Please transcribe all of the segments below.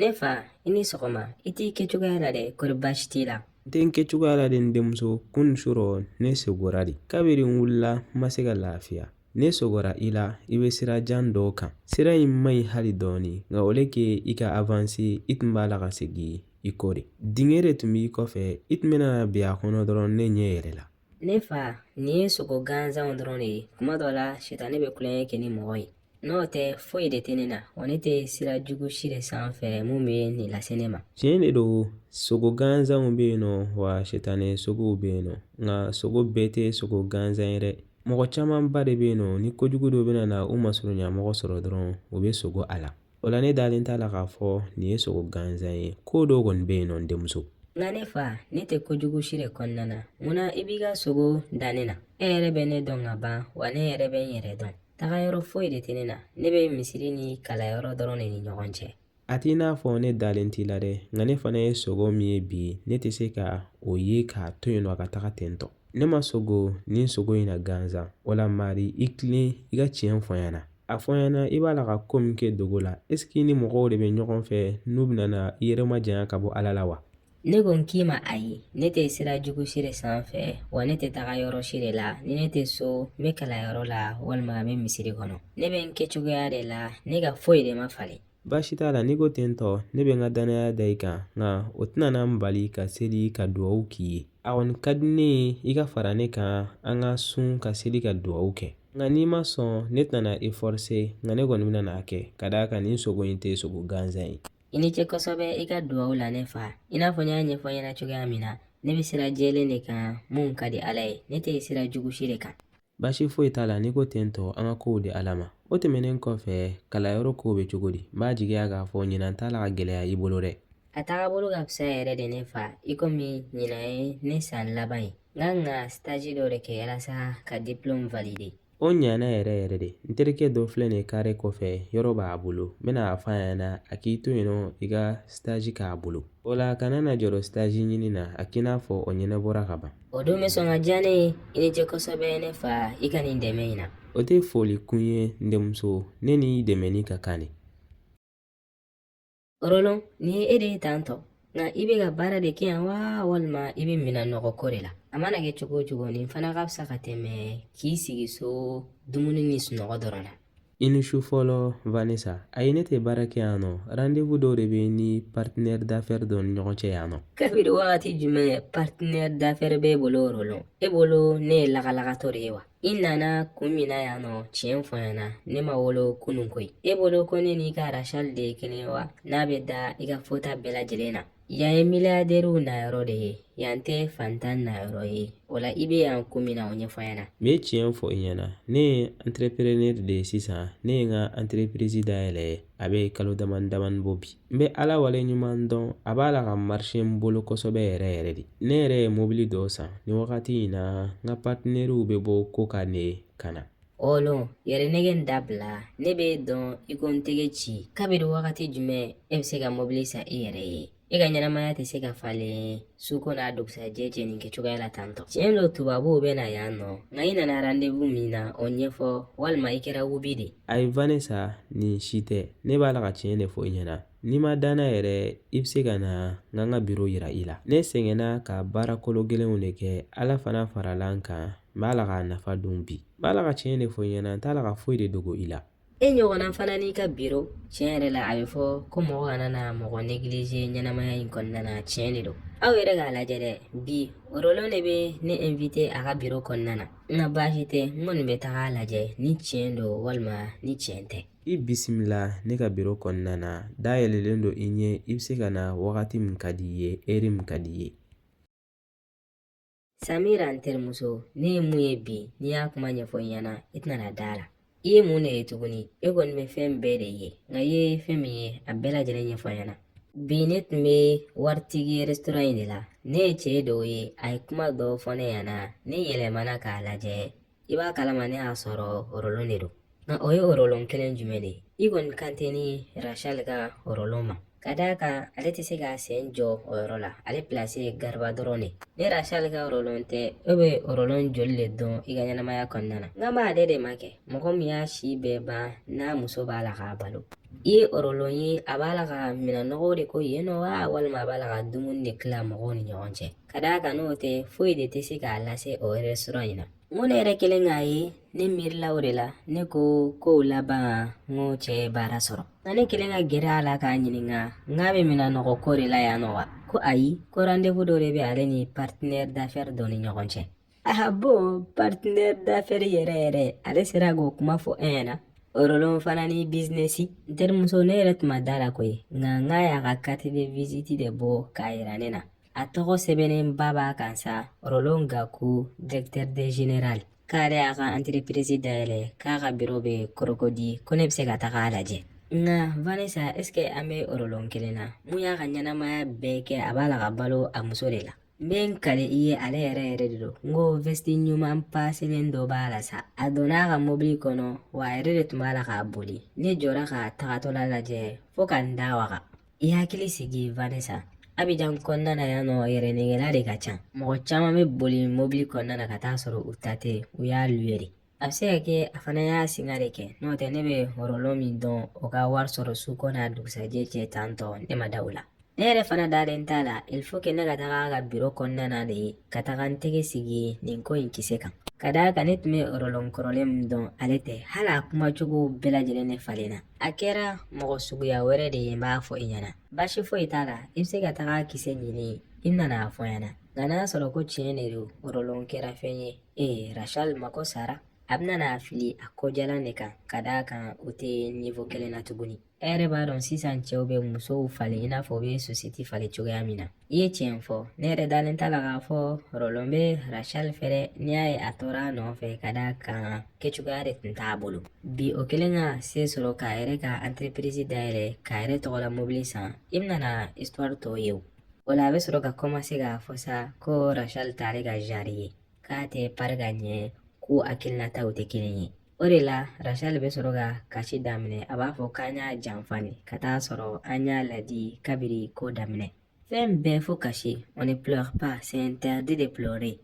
Ne fa i ni sɔgɔma i t'i kɛcogoya la dɛ kɔri baasi t'i la n tɛ n kɛcogoya la dɛ n denmuso kunu surɔ ne sogora de kabiri n wulila n ma se ka lafiya ne sogora i la i bɛ sira jan dɔ kan sira in man ɲi hali dɔɔni nka au lieu que i ka avanse i tun b'a la ka segin i kɔ de dingɛ de tun b'i kɔfɛ i tun bɛna bin a kɔnɔ dɔrɔn ne ɲɛ yɛlɛla ne fa nin ye sogo gansanw dɔrɔn de ye kuma dɔ la sitanɛ bɛ tulonkɛ kɛ ni mɔgɔ ye n'o tɛ foyi de tɛ ne na wa ne tɛ sira jugu si de sanfɛ mun bɛ nin lase ne ma tiɲɛ de don sogo gansanw bɛ yen nɔ wa sitanɛ sogow bɛ yen nɔ nka sogo bɛɛ tɛ sogo gansan ye dɛ mɔgɔ camanba de bɛ yen nɔ ni kojugu dɔ bɛna na u masurunya mɔgɔ sɔrɔ dɔrɔn u bɛ sogo a la o la ne dalen t'a la k'a fɔ nin ye sogo gansan ye ko dɔ kɔni bɛ yen nɔ n denmuso nka ne fa ne tɛ kojugu si de kɔnɔna na mun na i b'i ka sogo da ne na e yɛrɛ bɛ ne dɔn ka ban wa ne yɛrɛ bɛ n yɛrɛ dɔn taga yɔrɔ foyi de tɛ ne na ne bɛ misiri ni kalanyɔrɔ dɔrɔn de ni ɲɔgɔn cɛ a t'i n'a fɔ ne dalen t'i la dɛ nka ne fana ye sogo min ye bi ne tɛ se ka o ye k'a to yen nɔ a ka taga ten tɔ ne ma sogo nin sogo in na gansan wala mari i tilen i ka tiɲɛ fɔ n ɲɛna A fɔ n ɲɛna i b'a la ka ko min kɛ dogo la eseke i ni mɔgɔw de bɛ ɲɔgɔn fɛ n'u bɛna i yɛrɛ majanya ka bɔ ala la wa ne ko n k'i ma ayi ne tɛ sira jugu si de sanfɛ wa ne tɛ taga yɔrɔ si de la ni ne tɛ so n bɛ kalanyɔrɔ la walima n bɛ misiri kɔnɔ ne bɛ n kɛcogoya de la ne ka foyi de ma falen Baasi t'a la n'i ko ten tɔ ne bɛ n ka danaya da i kan nka o tɛna n bali ka seli ka dugawu k'i ye a kɔni ka di ne ye i ka fara ne kan an ka sun ka seli ka dugawu kɛ nka n'i ma sɔn ne tɛna e fɔrse nka ne kɔni bɛna a kɛ ka d'a kan nin sogo in tɛ sogo gansan ye i ni ce kosɛbɛ i ka dugawu la ne fa i n'a fɔ n y'a ɲɛfɔ i ɲɛna cogoya min na ne bɛ sira jɛlen de kan min ka di ala ye ne tɛ sira jugu si de kan Baasi foyi t'a la n'i ko ten tɔ an ka kow di ala ma o tɛmɛnen kɔfɛ kalanyɔrɔ kow bɛ cogo di n b'a jigiya k'a fɔ ɲinan t'a la ka gɛlɛya i bolo dɛ a tagabolo ka fisa yɛrɛ de ne fa i komi ɲinan ye ne san laban ye n ka kan ka sitaji dɔ de kɛ yalasa ka diplɔmu valide o ɲana yɛrɛ yɛrɛ de n terikɛ dɔ filɛ nin kare kɔfɛ yɔrɔ b'a bolo n bɛna a fɔ a ɲɛna a k'i to yen nɔ i ka sitaji k'a bolo o la kana na jɔrɔ sitaji ɲini na a k'i n'a fɔ o ɲɛnabɔra ka ban O don bɛ sɔn ka diya ne ye i ni ce kosɛbɛ ne fa i ka nin dɛmɛ in na o tɛ foli kun ye n denmuso ne n'i dɛmɛni ka kan de Orolon nin ye e de ye tan tɔ nka i bɛ ka baara de kɛ yan wa walima i bɛ minɛn nɔgɔ ko de la a mana kɛ cogo o cogo nin fana ka fisa ka tɛmɛ k'i sigi so dumuni ni sunɔgɔ dɔrɔn na I ni su fɔlɔ Vanessa. Ayi, ne tɛ baara kɛ yan nɔ. Rendez-vous dɔ de bɛ n ni partenaire d'affaires dɔ ni ɲɔgɔn cɛ yan nɔ. Kabiri wagati jumɛn partenaire d'affaires b'e bolo Orolon? E bolo ne ye lagalagatɔ de ye wa? I nana kun min na yan nɔ, tiɲɛ fɔ n ɲɛna, ne ma wolo kunun koyi. E bolo ko ne n'i ka Rachel de ye kelen ye wa? N'a bɛ da i ka fɔta bɛɛ lajɛlen na. Yan ye miliyaridɛriw na yɔrɔ de ye yan tɛ fantan na yɔrɔ ye o la i bɛ yan ko min na o ɲɛfɔ n ɲɛna n bɛ tiɲɛ fɔ i ɲɛna ne ye antereprenɛri de ye sisan ne ye n ka anterepirizi dayɛlɛ a bɛ kalo damani damani bɔ bi n bɛ ala wale ɲuman dɔn a b'a la ka marise n bolo kosɛbɛ yɛrɛ yɛrɛ de ne yɛrɛ ye mobili dɔ san ni wagati in na n ka paritenɛriw bɛ bɔ kɔkan de ka na Orolon yɛrɛnɛgɛn dabila ne b'i dɔn i ko n tɛgɛ ci kabiri wagati jumɛn e bɛ se ka mɔbili san i yɛrɛ ye e ka ɲɛnamaya tɛ se ka falen su ko n'a dugusajɛ cɛ nin kɛcogoya la tantɔ tiɲɛ don tubabuw bɛ na yan nɔ nka i nana randevu min na o ɲɛfɔ walima i kɛra wubi de ayi vanessa nin si tɛ ne b'a la ka tiɲɛ de fɔ i ɲɛna n'i ma da n na yɛrɛ i bɛ se ka na n ka n ka biro yira i la ne sɛgɛnna ka baara kologɛlɛnw de kɛ ala fana farala n kan n b'a la k'a nafa dun bi n b'a la ka tiɲɛ de fɔ i ɲɛna n t'a la ka foyi de dogo i la e ɲɔgɔnna fana n'i ka biro tiɲɛ yɛrɛ la a bɛ fɔ ko mɔgɔ kana na mɔgɔ neglige ɲɛnamaya in kɔnɔna na tiɲɛ de don aw yɛrɛ k'a lajɛ dɛ bi orolon de bɛ ne invite a ka biro kɔnɔna na nka baasi tɛ n kɔni bɛ taga a lajɛ ni tiɲɛ don walima ni tiɲɛ tɛ i bisimila ne ka biro kɔnɔna na dayɛlɛlen don i ɲɛ i bɛ se ka na wagati min ka di i ye heure min ka di i ye samira n terimuso ne ye mun ye bi ni n y'a kuma ɲɛfɔ i ɲɛna i tɛna da a la i ye mun de ye tuguni e kɔni bɛ fɛn bɛɛ de ye nka i ye fɛn min ye a bɛɛ lajɛlen ɲɛfɔ n ɲɛna bi ne tun bɛ waritigi restaurant in de la ne ye cɛ dɔ ye a ye kuma dɔ fɔ ne ɲɛna ne yɛlɛmana k'a lajɛ i b'a kalama ne y'a sɔrɔ orolon de don nka o ye orolon kelen jumɛn de ye i kɔni kan tɛ ni rachel ka orolon ma ka d'a kan ale tɛ se k'a sen jɔ o yɔrɔ la ale pilasi ye gariba dɔrɔn de ni rachel ka orolon tɛ e bɛ orolon joli de dɔn i ka ɲɛnamaya kɔnɔna na n kan b'ale de ma kɛ mɔgɔ min y'a si bɛɛ ban n'a muso b'a la k'a balo i ye orolon ye a b'a la ka minɛn nɔgɔw de ko yen nɔ wa walima a b'a la ka dumuni de tila mɔgɔw ni ɲɔgɔn cɛ ka d'a kan n'o tɛ foyi de tɛ se k'a lase o restaurant in na n ko ne yɛrɛ kɛlen k'a ye ne miirila o de la ne ko kow laban n ko cɛ ye baara sɔrɔ nka ne kɛlen ka gɛrɛ a la k'a ɲininka n k'a bɛ minɛn nɔgɔ ko de la yan nɔ wa ko ayi ko rendez-vous dɔ de bɛ ale ni partenaire d'affaires dɔ ni ɲɔgɔn cɛ ah bon partenaire d'affaires yɛrɛ yɛrɛ ale sera k'o kuma fɔ an ɲɛna Orolon fana ni bizinesi n terimuso ne yɛrɛ tun ma da la koyi nka n k'a y'a ka carte de visite de bɔ k'a yira ne na a tɔgɔ sɛbɛnnenba b'a kan sa Roland gaku directeur de général k'ale y'a ka entreprise dayɛlɛ k'a ka biro bɛ Cocody ko ne bɛ se ka taga a lajɛ nka vanessa est-ce que an bɛ Roland kelen na min y'a ka ɲɛnamaya bɛɛ kɛ a b'a la ka balo a muso de la n bɛ n kali i ye ale yɛrɛ yɛrɛ de don n ko vɛsiti ɲuman paselen dɔ b'a la sa a donna a ka mobili kɔnɔ wa a yɛrɛ de tun b'a la k'a boli ne jɔra k'a tagatɔla lajɛ fo ka n da waga i hakili sigi vanessa abijan kɔnɔna na yan nɔ yɛrɛnɛgɛla de ka ca mɔgɔ caman bɛ boli mobili kɔnɔna na ka taa sɔrɔ u ta tɛ u y'a luwe de a bɛ se ka kɛ a fana y'a singa de kɛ n'o tɛ ne bɛ Roland min dɔn o ka wari sɔrɔ su kɔ n'a dugusajɛ cɛ tan tɔ ne ma da o la ne yɛrɛ fana dalen t'a la il faut que ne ka taga a ka biro kɔnɔna na de ka taga n tɛgɛ sigi nin ko in kisɛ kan ka d'a kan ne tun bɛ Roland kɔrɔlen min dɔn ale tɛ hali a kumacogo bɛɛ lajɛlen ne falenna a kɛra mɔgɔ suguya wɛrɛ de ye n b'a fɔ i ɲɛna baasi foyi t'a la i bɛ se ka taga kisɛ ɲini i bɛna n'a fɔ n ɲɛna nka n'a sɔrɔ ko tiɲɛ de don Roland kɛra fɛn ye ee rachel mako sara a bɛna n'a fili a kɔjalan de kan ka d'a kan u tɛ niveau kelen na tuguni e yɛrɛ b'a dɔn sisan cɛw bɛ musow falen i n'a fɔ u bɛ sosɛti falen cogoya min na I ye tiɲɛ fɔ ne yɛrɛ dalen t'a la k'a fɔ Roland bɛ rachel fɛ dɛ n'i y'a ye a tora a nɔfɛ ka d'a kan kɛcogoya de tun t'a bolo bi o kelen ka se sɔrɔ k'a yɛrɛ ka entreprise dayɛlɛ k'a yɛrɛ tɔgɔla mobili san i bɛna na histoire tɔw ye o o la a bɛ sɔrɔ ka kɔmanse k'a fɔ sa ko rachel t'ale ka genre ye k'a tɛ pari ka ɲɛ k'u hakilinataw tɛ kelen ye O de la Rachel bɛ sɔrɔ ka kasi daminɛ a b'a fɔ k'an y'a janfa de ka taa sɔrɔ an y'a ladi kabiri ko daminɛ fɛn bɛɛ fo kasi on ne pleure pas c'est interdit de pleurer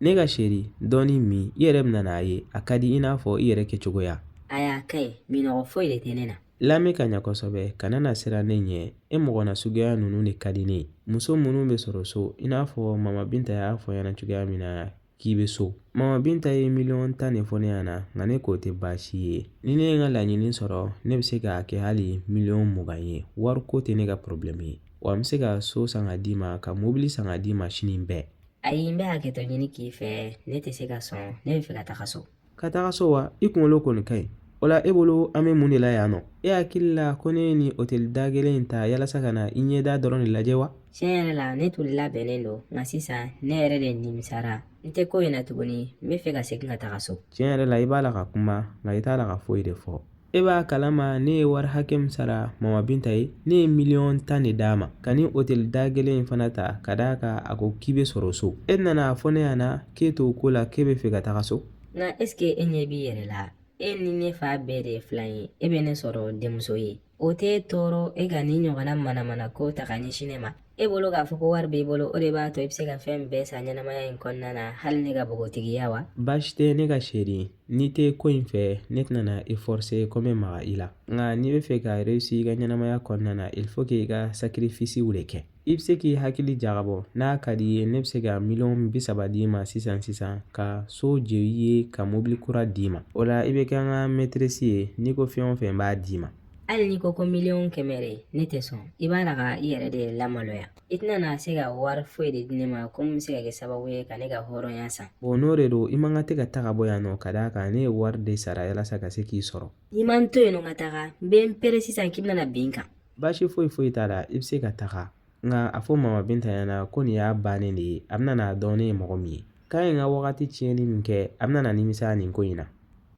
ne ka seri dɔɔni min i yɛrɛ bɛna n'a ye a ka di i n'a fɔ i yɛrɛ kɛcogoya ayi a ka ɲi minnɔgɔ foyi de tɛ ne na lamɛn ka ɲa kosɛbɛ kana na siran ne ɲɛ e mɔgɔ na suguya ninnu de ka di ne ye muso minnu bɛ sɔrɔ so i n'a fɔ mama binta y'a fɔ n ɲɛna cogoya min na k'i bɛ so mama binta ye miliyɔn tan de fɔ ne ɲɛna nka ne k'o tɛ baasi ye ni ne ye n ka laɲini sɔrɔ ne bɛ se k'a kɛ hali miliyɔn mugan ye wariko tɛ ne ka porobilɛmu ye wa n bɛ se ka so san ka d'i ma ka mobili san ka d'i ma sini bɛɛ ayi n bɛ hakɛto ɲini k'i fɛ ne tɛ se ka sɔn ne bɛ fɛ ka taga so ka taga so wa i kunkolo kɔni ka ɲi o la e bolo an bɛ mun de la yan nɔ e hakili la ko ne ye nin oteli da gɛlɛn in ta yalasa ka na i ɲɛda dɔrɔn de lajɛ wa tiɲɛ yɛrɛ la ne tun labɛnnen don nka sisan ne yɛrɛ de nimisara n tɛ ko in na tuguni n bɛ fɛ ka segin ka taga so tiɲɛ yɛrɛ la i b'a la ka kuma nka i t'a la ka foyi de fɔ E b'a kalama ne ye wari hakɛ min sara mama binta ye ne ye miliyɔn tan de d'a ma ka nin oteli da gɛlɛn in fana ta ka d'a kan a ko k'i bɛ sɔrɔ so e nana a fɔ ne ɲɛna k'e t'o ko la k'e bɛ fɛ ka taga so nka esike e ɲɛ b'i yɛrɛ la e ni ne fa bɛɛ de ye filan ye e bɛ ne sɔrɔ denmuso ye o t'e tɔɔrɔ e ka nin ɲɔgɔnna manamana ko ta ka ɲɛsin ne ma e bolo k'a fɔ ko wari b'i bolo o de b'a to i bɛ se ka fɛn bɛɛ san ɲɛnamaya in kɔnɔna na hali ne ka npogotigiya wa baasi tɛ ne ka chérie n'i tɛ ko in fɛ ne tɛna i forse ko n bɛ maga i la nka n'i bɛ fɛ ka réussir i ka ɲɛnamaya kɔnɔna na il faut que i ka sakirifisiw de kɛ i bɛ se k'i hakili jagabɔ n'a ka di i ye ne bɛ se ka miliyɔn bi saba d'i ma sisan sisan ka so jɔ i ye ka mobili kura d'i ma o la i bɛ kɛ n ka mɛtirɛsi ye n'i ko fɛn o fɛn n b'a d'i ma hali n'i ko ko miliyɔn kɛmɛ de ne tɛ sɔn i b'a la ka i yɛrɛ de lamaloya i tɛna na se ka wari foyi de di ne ma ko min bɛ se ka kɛ sababu ye ka ne ka hɔrɔnya san o n'o de don i man ka tɛ ka taga bɔ yan nɔ ka d'a kan ne ye wari de sara yalasa ka se k'i sɔrɔ n'i ma n to yen nɔ ka taga n bɛ n pɛrɛn sisan k'i bɛna bin n kan baasi foyi foyi t'a la i bɛ se ka taga nka a fɔ mama binta ɲɛna ko nin y'a bannen de ye a bɛna n'a dɔn ne ye mɔgɔ min ye K'a ye n ka wagati tiɲɛni min kɛ a bɛna na nimisa nin ko in na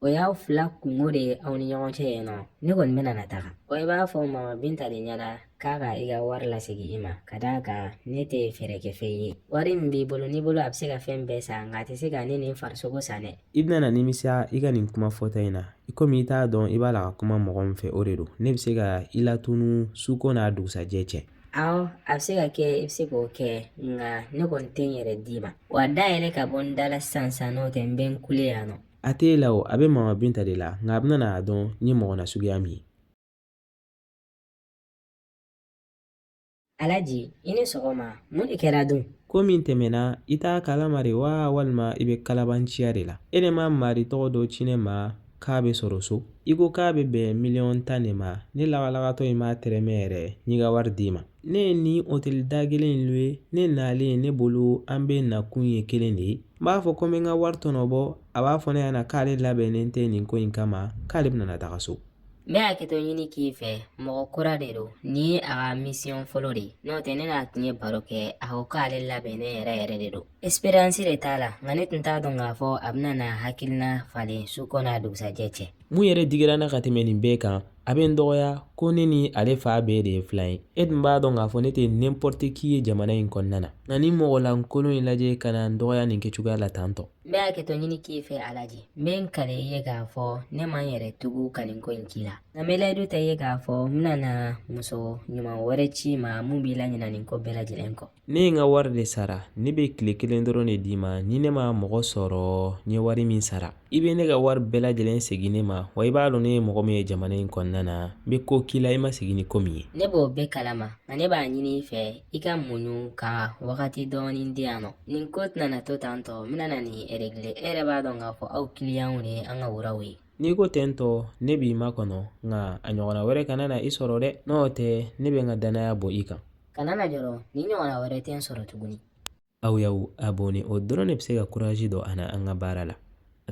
o y'aw fila kungo de ye aw ni ɲɔgɔn cɛ yen nɔ ne kɔni bɛna na taga o i b'a fɔ mama binta de ɲɛna k'a ka i ka wari lasegin i ma ka d'a kan ne tɛ feerekɛfɛn ye wari min b'i bolo n'i bolo a bɛ se ka fɛn bɛɛ san nka a tɛ se ka ne nin farisogo san dɛ i bɛna na nimisa i ka nin kuma fɔta in na i komi i t'a dɔn i b'a la ka kuma mɔgɔ min fɛ o de don ne bɛ se ka i latunu suko n'a dugusajɛ cɛ Awɔ a bɛ se ka kɛ i bɛ se k'o kɛ nka ne kɔni tɛ n yɛrɛ d'i ma wa da yɛlɛ ka bɔ n da la sisan sisan n'o tɛ n bɛ n kule yan nɔ a tɛ e la o a bɛ mama binta de la nka a bɛna n'a dɔn n ye mɔgɔ nasuguya min ye alaji i ni sɔgɔma mun de kɛra dun ko min tɛmɛna i t'a kalama de wa walima i bɛ kalabanciya de la e de ma mari tɔgɔ dɔ ci ne ma k'a bɛ sɔrɔ so i ko k'a bɛ bɛn miliyɔn tan de ma ne lagalagatɔ in m'a tɛrɛmɛ yɛrɛ n y'i ka wari d'i ma ne ye nin oteli da gɛlɛn in luwe ne nalen ne bolo an bɛɛ nakun ye kelen de ye n b'a fɔ ko n bɛ n ka wari tɔnɔ bɔ a b'a fɔ ne ɲɛna k'ale labɛnnen tɛ nin ko in kama k'ale bɛna taga so ne bɛ hakɛto ɲini k'i fɛ mɔgɔ kura de don nin ye a ka misiyɔn fɔlɔ de ye n'o tɛ ne n'a tun ye baro kɛ a ko k'ale labɛnnen yɛrɛ yɛrɛ de don Expérience de t'a la nka ne tun t'a dɔn k'a fɔ a bɛna n'a hakilina falen suko n'a dugusajɛ cɛ mun yɛrɛ digira n na ka tɛmɛ nin bɛɛ kan a bɛ n dɔgɔya ko ne ni ale fa bɛɛ de ye filan ye e tun b'a dɔn k'a fɔ ne tɛ n'importe qui ye jamana in kɔnɔna na nka nin mɔgɔ lankolon in lajɛ ka na n dɔgɔya nin kɛcogoya la tan tɔ n bɛ hakɛto ɲini k'i fɛ alaji n bɛ n kale i ye k'a fɔ ne ma n yɛrɛ tugu ka nin ko in k'i la nka n bɛ layidu ta i ye k'a fɔ n bɛna na muso ɲuman wɛrɛ c'i ma mun b'i laɲinɛ nin ko bɛɛ lajɛlen kɔ Ne ye n ka wari de sara ne bɛ tile kelen dɔrɔn de d'i ma ni ne ma mɔgɔ sɔrɔ n ye wari min sara i bɛ ne ka wari bɛɛ lajɛlen segin ne ma wa i b'a dɔn ne ye mɔgɔ min ye jamana in kɔnɔna na n bɛ ko k'i la i ma sigi ni ko min ye ne b'o bɛɛ kalama nka ne b'a ɲini i fɛ i ka muɲu ka wagati dɔɔnin di yan nɔ nin ko tɛna to tan tɔ n bɛna na nin régler e yɛrɛ b'a dɔn k'a fɔ aw kiliyanw de ye an ka roiw ye n'i ko ten tɔ ne b'i makɔnɔ nka a ɲɔgɔnna wɛrɛ kana na i sɔrɔ dɛ n'o tɛ ne bɛ n ka dannaya bɔ i kan kana na jɔrɔ nin ɲɔgɔnna wɛrɛ tɛ n sɔrɔ tuguni aw y'aw abonné o dɔrɔn de bɛ se ka kurazi don an na an ka baara la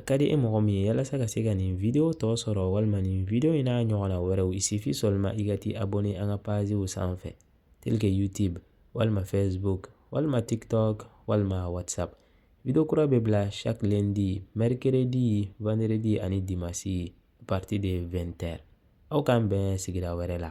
car e mɔgɔ min ye yalasa ka se ka nin video tɔ sɔrɔ walima nin video in n'a ɲɔgɔnna wɛrɛw il suffit seulement i ka t'i abonné an ka paziw sanfɛ tel que youtube walima facebook walima tiktok walima whatsapp Video kura bɛ bila chaque lundi, mercredi, vendredi ani dimanche à partir de 20 heures . Aw k'an bɛn sigira wɛrɛ la.